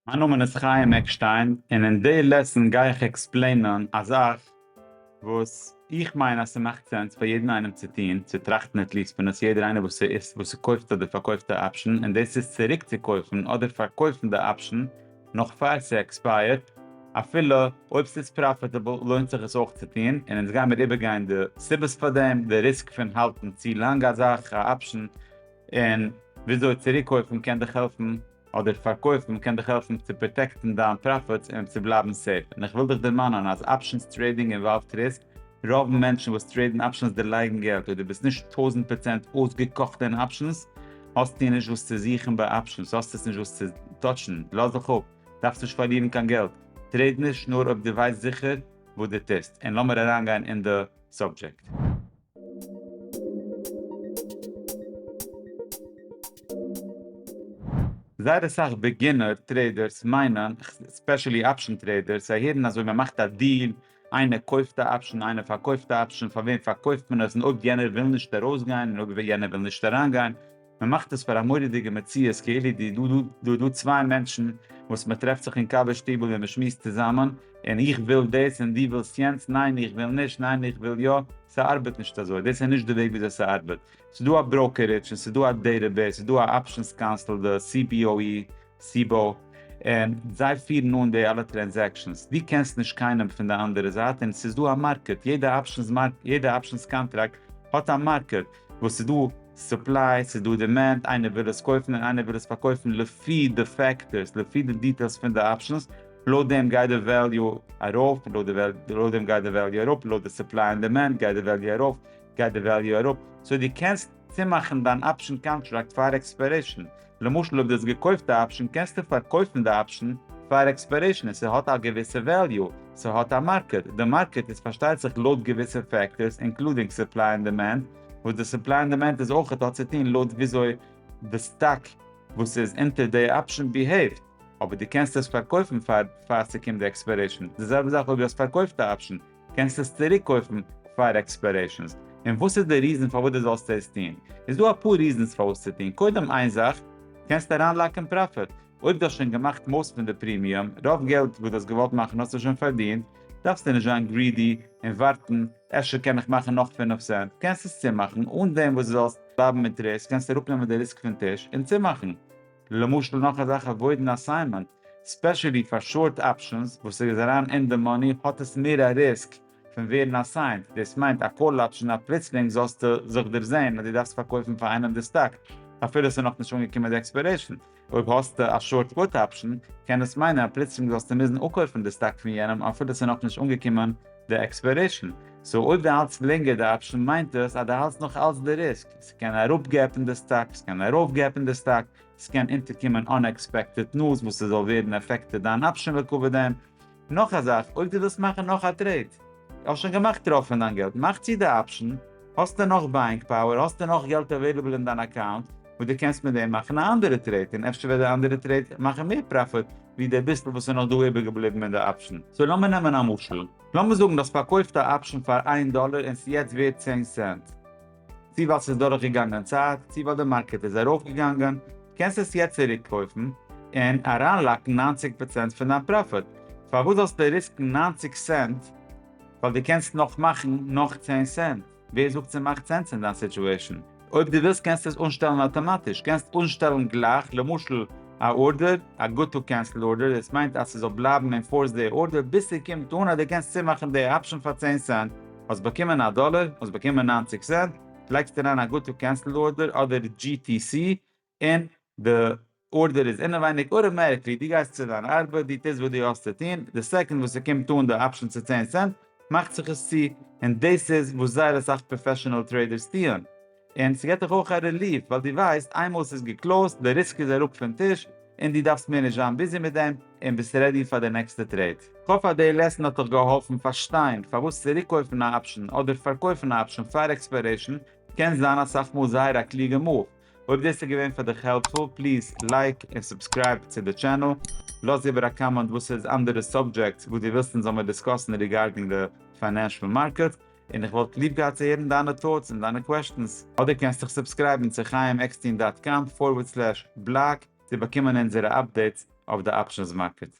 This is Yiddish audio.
מיין נאמען איז חיים עקשטיין און אין די לעסן גיי איך עקספלעינען א זאך וואס איך מיין אז ס'מאכט סענס פאר יעדן איינעם צו טון, צו טראכטן עטליעסט פון עס, יעדער איינער וואס וואס ס'קויפט אדער פארקויפט א אפשן און דאס איז צוריק צו קויפן אדער פארקויפן די אפשן נאך פאר ס'עקספייערט אפילו אויב ס'איז פראפיטעבל לוינט זיך עס אויך צו טון און אונז גיימיר איבערגיין די סיבות פאר דעם, די ריסק פון האלטן צו לאנג א זאך, א אפשן, און וויאזוי צוריקקויפן קען דיך העלפן אדער פארקויפן קען דיך העלפן צו פראטעקטן דיין פראפיטס און צו בלייבן סעיף, און איך וויל דיך דערמאנען אז אפשענס טרעידינג אינוואלווד ריסק, רוב מענטשן וואס טרעידן אפשענס דערלייגן געלט, אויב דו ביסט נישט טויזנט פראצענט אויסגעקאכט אין אפשענס האסטו נישט וואס צו זוכן ביי אפשענס, האסט עס נישט וואס צו טאטשן, לאז זיך אפ, דארפסט נישט פארלירן קיין געלט, טרעיד נישט נאר אויב דו ווייסט זיכער וואס דו טוסט, און לאמיר אריינגיין אין די סאבדזשעקט. זייער אסאך בעגינער טרעידערס מיינען, ספעשעלי אפשן טרעידערס, זיי הערן אז אויב מען מאכט א דיל, איינער קויפט א אפשן, איינער פארקויפט א אפשן, פאר וועם פארקויפט מען עס, און אויב יענער וויל נישט ארויסגיין, און אויב יענער וויל נישט אריינגיין, מען מאכט עס פאר א מורא'דיגע מציאות כאילו דא איז דא צוויי מענטשן וואס מען טרעפט זיך אין קאווע שטיבל און מען שמועסט צוזאמען, און איך וויל דאס און דו ווילסט יענץ, ניין איך וויל נישט, ניין איך וויל יא, ס'ארבעט נישט אזוי, דאס איז נישט די וועג וויאזוי ס'ארבעט, ס'איז דא א בראוקערידזש און ס'איז דא א דעטעבעיס, ס'איז דא א אפשענס קאנסול די CBOE, סיבא, און זיי פירן אן די אלע טרענזעקשאנס, דו קענסט נישט קיינעם פון די אנדערע זייט און ס'איז דא א מארקעט, יעדע אפשענס קאנטראקט האט א מארקעט, וואס ס'איז דא סופליי, ס'איז דא דימענד, איינער וויל עס קויפן און איינער וויל עס פארקויפן, לפי די פעקטארס, לפי די דיטעילס פון די אפשענס, לויט דעם גייט די וועליו ארויף, לויט דעם גייט די וועליו אראפ, לויט די סופליי און דימענד גייט די וועליו ארויף, גייט די וועליו אראפ, סאו דו קענסט צומאכן דיין אפשען קאנטראקט פאר עקספיירעישן. למשל אויב דו האסט געקויפט א אפשען קענסטו פארקויפן די אפשען פאר עקספיירעישן און ס'האט א געוויסע וועליו, ס'האט א מארקעט, די מארקעט איז פארשטייט זיך לויט געוויסע פעקטארס אינקלודינג סופליי און דימענד, וואס די סופליי און דימענד איז אויכעט האט צוטוהן לויט וויאזוי די סטאק וואס איז אונטער די אפשען ביהעיווט, אבער דו קענסט עס פארקויפן פאר פאר ס'קומט די עקספיירעישן, די זעלבע זאך אויב דו האסט פארקויפט א אפשען, קענסט עס צוריק קויפן פאר עקספיירעישאנס? און וואס איז די ריזן פארוואס די זאלסט עס טוהן? איז דא אפאר ריזענס פארוואס צו טוהן, קודם איין זאך, קענסט אריין לאקען פראפיט, אויב די האסט שוין געמאכט מאסט פון די פרימיום, רוב געלט וואס די האסט געוואלט מאכן האסטו שוין פארדינט, דארפסטו נישט זיין גרידי און ווארטן אפשר קען איך מאכן נאך פֿינף סענט, קענסט עס צומאכן, אן דעם וואס די זאלסט בלייבן מיט ריסק, קענסט אראפ נעמען די ריסק פון טיש, און צומאכן. למשל נאך א זאך א וואודן אסיינמענט, ספעשעלי פאר שארט אפשענס וואס ער איז אריין אין די מאני האט עס מער א ריסק פון ווערן אסיינט, דאס מיינט א קאל אפשען אז פלוצלינג זאלסטו זיך דערזעהן אז דו דארפסט פארקויפן פאר איינעם די סטאק אפילו עס איז נאכנישט אנגעקומען די עקספיירעישן, אויב האסטו א שארט פוט אפשען קען עס מיינען אז פלוצלינג זאלסטו מוזן אפקויפן די סטאק פון יענעם אפילו עס איז נאכנישט אנגעקומען די עקספיירעישן, סאו אויב דו האלטסט לענגער די אפשען מיינט עס אז דו האלטסט נאך אלץ די ריסק. ס'קען אראפגעפן די סטאק, ס'קען ארויפגעפן די סטאק, ס'קען אונטערקומען אנעקספעקטעד נוז וואס ס'זאל ווערן עפעקטעד דיין אפשען לעקאווע דען. נאך א זאך, אויב דו ווילסט מאכן נאך א טרעיד, האסט שוין געמאכט רוב פון דיין געלט, מאך צו די אפשען, האסטו נאך בייאינג פאוער, האסטו נאך געלט אוועילעבל אין דיין אקאונט, וואס דו קענסט מיט דעם מאכן א אנדערע טרעיד, און אפשר וועט די אנדערע טרעיד מאכן מער פראפיט ווי די ביסל וואס איז נאך דא איבערגעבליבן אין די אפשען. סאו לאמיר נעמען א משל, לאמיר זאגן דו האסט פארקויפט א אפשען פאר איין דאלער און ס'יעצט ווערט צען סענט, צי ווייל ס'איז דורכגעגאנגען צייט, צי ווייל די מארקעט איז ארויפגעגאנגען, קענסט עס יעצט צוריקקויפן און אריינלאקן נײַנציק פראצענט פון דיין פראפיט, פארוואס זאלסטו ריסקן נײַנציק סענט ווייל דו קענסט נאך מאכן נאך צען סענט? ווער זאגט ס'מאכט סענס אין דיין סיטועשן? אויב דו ווילסט קענסטו עס אנשטעלן אטאמאטיש, קענסט אנשטעלן גלייך למשל א ארדער, א גוד טו קענסל ארדער, דאס מיינט אז ס'זאל בלייבן אינפארסט די ארדער ביז ס'קומט אן אז דו קענסט צומאכן די אפשן פאר צען סענט. האסט באקומען א דאלער, האסט באקומען נײַנציק סענט, לייגסט אריין א גאטא קענסלד ארדער אדער GTC און די ארדער איז אינעווייניג אוטאמעטיקלי, דו גייסט צו דיין ארבעט, דו טוסט וואס דו האסט צו טון, די סעקאנד וואס ס'קומט אן די אפשען צו צען סענט מאכט זיך עס צו, און דאס איז וואס זייער אסאך פראפעשענעל טרעידערס טוען. און ס'געט דיך אויך א רעליף ווייל דו ווייסט איינמאל ס'איז געקלאוזט, די ריסק איז אראפ פון טיש, און דו דארפסט מער נישט זיין ביזי מיט דעם, און ביסט רעדי פאר די נעקסטע טרעיד. כ'האף אז די לעסן האט דיך געהאלפן פארשטיין פארוואס צוריקקויפן א אפשן אדער פארקויפן א אפשן פאר עקספיירעישן קען זיין אסאך מאל זייער א קלוגע מאוו. אויב דאס איז געווען פאר דיך העלפפול פליז לייק און סובסקרייב צו די טשענעל. לאז איבער א קאמענט וואס איז אנדערע סאבדזשעקטס וואס דו ווילסט אונז זאל מיר דיסקאסן ריגארדינג די פיינענשל מארקעט. און איך וואלט ליב געהאט צו הערן דיינע טאוטס און דיינע קוועשטענס. אדער קענסט דיך סובסקרייבן צו חיים עקסטין דאט קאם פארווערד סלעש בלאג צו באקומען אונזערע אפדעיטס אויף די אפשענס מארקעט.